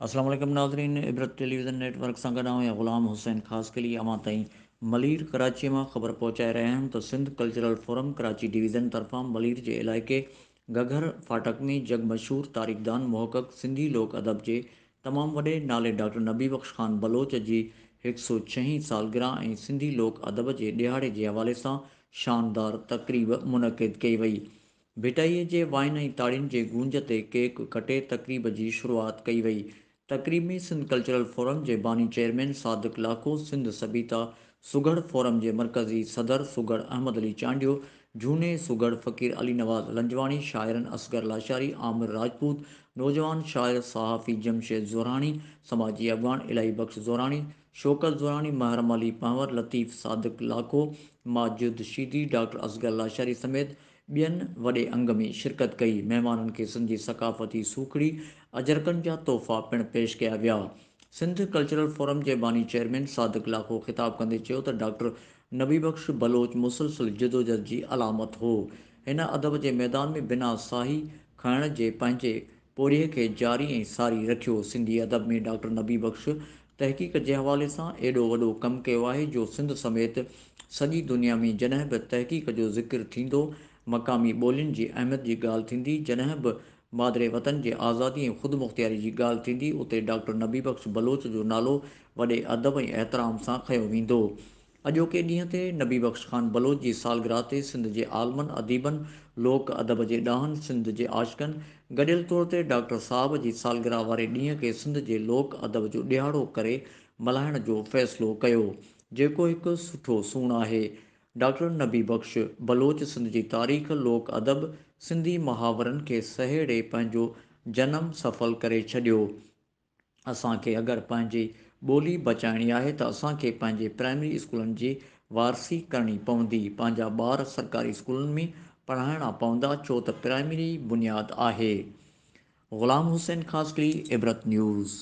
السلام عليڪم ناظرين عبرت ٽيليويزن نيٽ ورڪ سان گڏ آئون غلام حسين خاصخيلي اوهان تائين ملير ڪراچي مان خبر پهچائي رهيا آهيون ته Sindh cultural forum Karachi division طرفان ملير جي علائقي گهگهر ڦاٽڪ ۾ جڳ مشهور تاريخدان محقق سنڌي لوڪ ادب جي تمام وڏي نالي ڊاڪٽر نبي بخش خان بلوچ جي هڪ سئو ڇهين سالگرهه ۽ سنڌي لوڪ ادب جي ڏهاڙي جي حوالي سان شاندار تقريب منعقد ڪئي وئي ڀٽائي جي وائن ۽ تاڙين جي گونج تي ڪيڪ ڪٽي تقريب جي شروعات ڪئي وئي تقريب ۾ سنڌ ڪلچرل فورم جي باني چيئرمين صادق لاکو، سنڌ سڀيتا سگهڙ فورم جي مرڪزي صدر سگهڙ احمد علي چانڊيو، جهوني سگهڙ فقير علي نواز لنجواڻي، شاعرن اصغر لاشاري، عامر راجپوت، نوجوان شاعر صحافي جمشيد زوراڻي، سماجي اڳواڻ الاهي بخش زوراڻي، شوڪت زوراڻي، محرم علي پنهور، لطيف صادق لاکو، ماجد شيدي، ڊاڪٽر اصغر لاشاري سميت ٻين وڏي انگ ۾ شرڪت ڪئي، مهمانن کي سنڌي ثقافتي سوکڙي، اجرڪن جا تحفا پڻ پيش ڪيا ويا. سنڌ ڪلچرل فورم جي باني چيئرمين صادق لاکو خطاب ڪندي چيو ته ڊاڪٽر نبي بخش بلوچ مسلسل جدوجھد جي علامت هو، هن ادب جي ميدان ۾ بنا ساهي کائڻ جي پنهنجي پورهيي کي جاري ۽ ساري رکيو. سنڌي ادب ۾ ڊاڪٽر نبي بخش تحقيق جي حوالي سان ايڏو وڏو ڪم ڪيو آهي جو سنڌ سميت سڄي دنيا ۾ جڏهن به تحقيق جو ذڪر ٿيندو، مقامي ٻولين جي اهميت جي ڳالهه ٿيندي، جڏهن به مادري وطن جي آزادي ۽ خودمختياري جي ڳالهه ٿيندي اتي ڊاڪٽر نبي بخش بلوچ جو نالو وڏي ادب ۽ احترام سان کنيو ويندو. اڄوڪي ڏينهن تي نبي بخش خان بلوچ جي سالگرهه تي سنڌ جي عالمن، اديبن، لوڪ ادب جي ڏاهن، سنڌ جي عاشقن، گڏيل طور تي ڊاڪٽر صاحب جي سالگرهه واري ڏينهن کي سنڌ جي لوڪ ادب جو ڏيهاڙو ڪري ملهائڻ جو فيصلو ڪيو، جيڪو هڪ سٺو سون آهي. ڊاڪٽر نبي بخش بلوچ سنڌ جي تاريخ، لوڪ ادب، سنڌي محاورن کي سهيڙي پنهنجو جنم سڦل ڪري ڇڏيو. اسان کي اگر پنهنجي ٻولي بچائڻي آهي ته اسان کي پنهنجي پرائمري اسڪولن جي وارثي ڪرڻي پوندي، پنهنجا ٻار سرڪاري اسڪولن ۾ پڙهائڻا پوندا ڇو ته پرائمري بنياد آهي. غلام حسين خاصخيلي، عبرت نيوز.